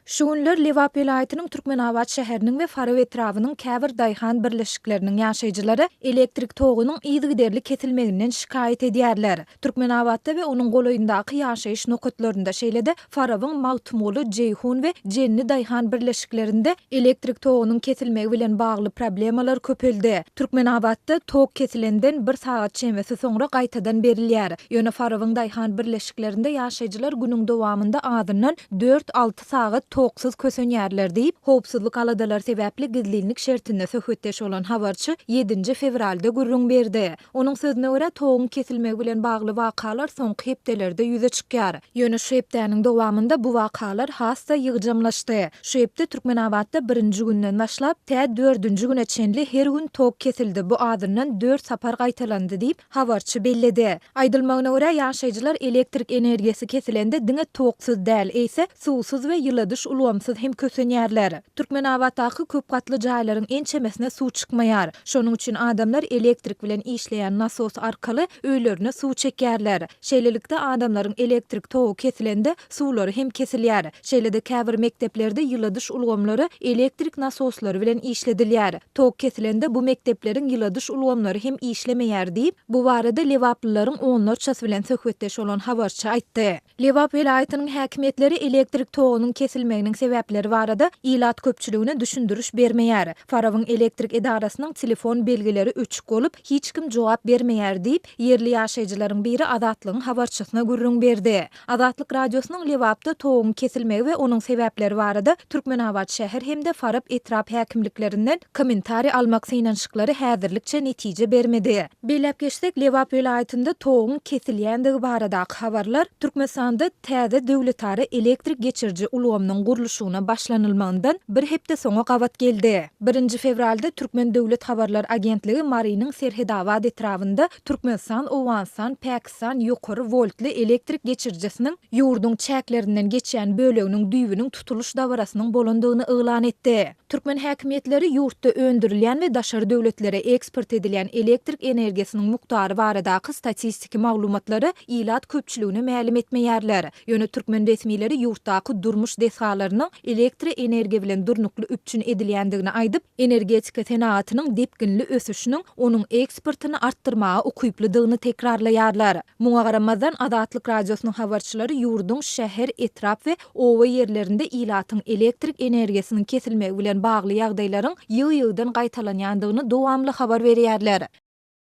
Şu günler Lebap welaýatynyň Türkmenabat şäheriniň we Farap etrabynyň käbir daýhan birleşikleriniň ýaşaýjylary elektrik togunyň yzygiderli kesilmeginden şikaýat edýärler. Türkmenabatda we onuň golaýyndaky ýaşaýyş nokatlarynda, şeýle-de Farabyň Magtymguly, Jeýhun we Jenli daýhan birleşiklerinde elektrik togunyň kesilmegi bilen bagly problemalar köpeldi. Türkmenabatda tok kesilenden bir sagat çemesi soňra gaýtadan berilýär. Ýöne Farabyň daýhan birleşiginde kiçjiklerinde ýaşaýjylar günüň dowamynda azyndan dört-alty sagat toksuz kösenýärler diýip, howpsuzlyk aladalary sebäpli gizlinlik şertinde söhbetdeş bolan habarçy ýedinji fewralda gürrüň berdi. Onuň sözüne görä, toguň kesilmegi bilen bagly wakalar soňky hepdelerde ýüze çykýar. Ýöne şu hepdäniň dowamynda bu wakalar has-da ýygjamlaşdy. Şu hepde Türkmenabatda birinji günden başlap, tä dördünji güne çenli her gün tok kesildi, bu azyndan dört sapar gaýtalandy diýip, Habarçy belledi. Aýdylmagyna görä, ýaşaýjylar elektrik energiýasy kesilende diňe toksuz däl, eýse, suwsuz we ýyladyş ulgamsyz hem kösenýärler. Türkmenabatdaky köp gatly jaýlaryň ençemesine suw çykmaýar. Şonuň üçin adamlar elektrik bilen işleýän nasos arkaly öýlerine suw çekýärler. Şeýlelikde, adamlaryň elektrik togy kesilende suwlary hem kesilýär. Şeýle-de käbir mekdeplerde ýyladyş ulgamlary elektrik nasoslary bilen işledilýär. Tok kesilende bu mekdepleriň ýyladyş ulgamlary hem işlemeýär diýip, bu barada lebaplylaryň onlarçasy bilen söhbetdeş bolan habarçy aýtdy. Lebap welaýatynyň häkimiýetleri elektrik togunyň kesilmeginiň sebäpleri barada ilat köpçüligine düşündiriş bermeýär. Farabyň elektrik edarasynyň telefon belgileri öçük bolup, hiç kim jogap bermeýär diýip, ýerli ýaşaýjylaryň biri Azatlygyň habarçysyna gürrüň berdi. Azatlyk Radiosynyň Lebapda toguň kesilmegi we onuň sebäpleri barada Türkmenabat şäher hem-de Farap etrap häkimliklerinden kommentariý almak synanyşyklary häzirlikçe netije bermedi. Belläp geçsek, Lebap welaýatynda toguň kesilýändigi baradaky habarlar Türkmenistanda täze döwletara elektrik geçiriji ulgamynyň gurluşygyna başlanylmagyndan bir hepde soňa gabat geldi. Birinji fewralda Türkmen döwlet habarlar agentligi Marynyň Serhetabat etrabynda Türkmenistan, Owganystan, Pakistan, Pakistan ýokary woltly elektrik geçirijisiniň ýurduň çäklerinden geçýän böleginiň düýbüniň tutulyş dabarasynyň bolandygyny yglan etdi. Türkmen häkimiýetleri ýurtda öndürilýän we daşary döwletlere eksport edilýän elektrik energiýasynyň mukdary baradaky statistiki maglumatlary ilat köpçüligine mälim etmeýärler. Ýöne türkmen resmileri ýurtdaky durmuş desgalarynyň elektri energiýa bilen durnukly üpjün edilýändigini aýdyp, energetika senagatynyň depginli ösüşiniň onuň eksportyny artdyrmaga ukyplydygyny tekrarlaýarlar. Muňa garamazdan, Azatlyk Radiosynyň habarçylary ýurduň şäher, etrap we oba ýerlerinde ilatyň elektrik energiýasynyň kesilmegi bilen bagly ýagdaýlaryň ýygy-ýygydan gaýtalanýandygyny dowamly habar berýärler.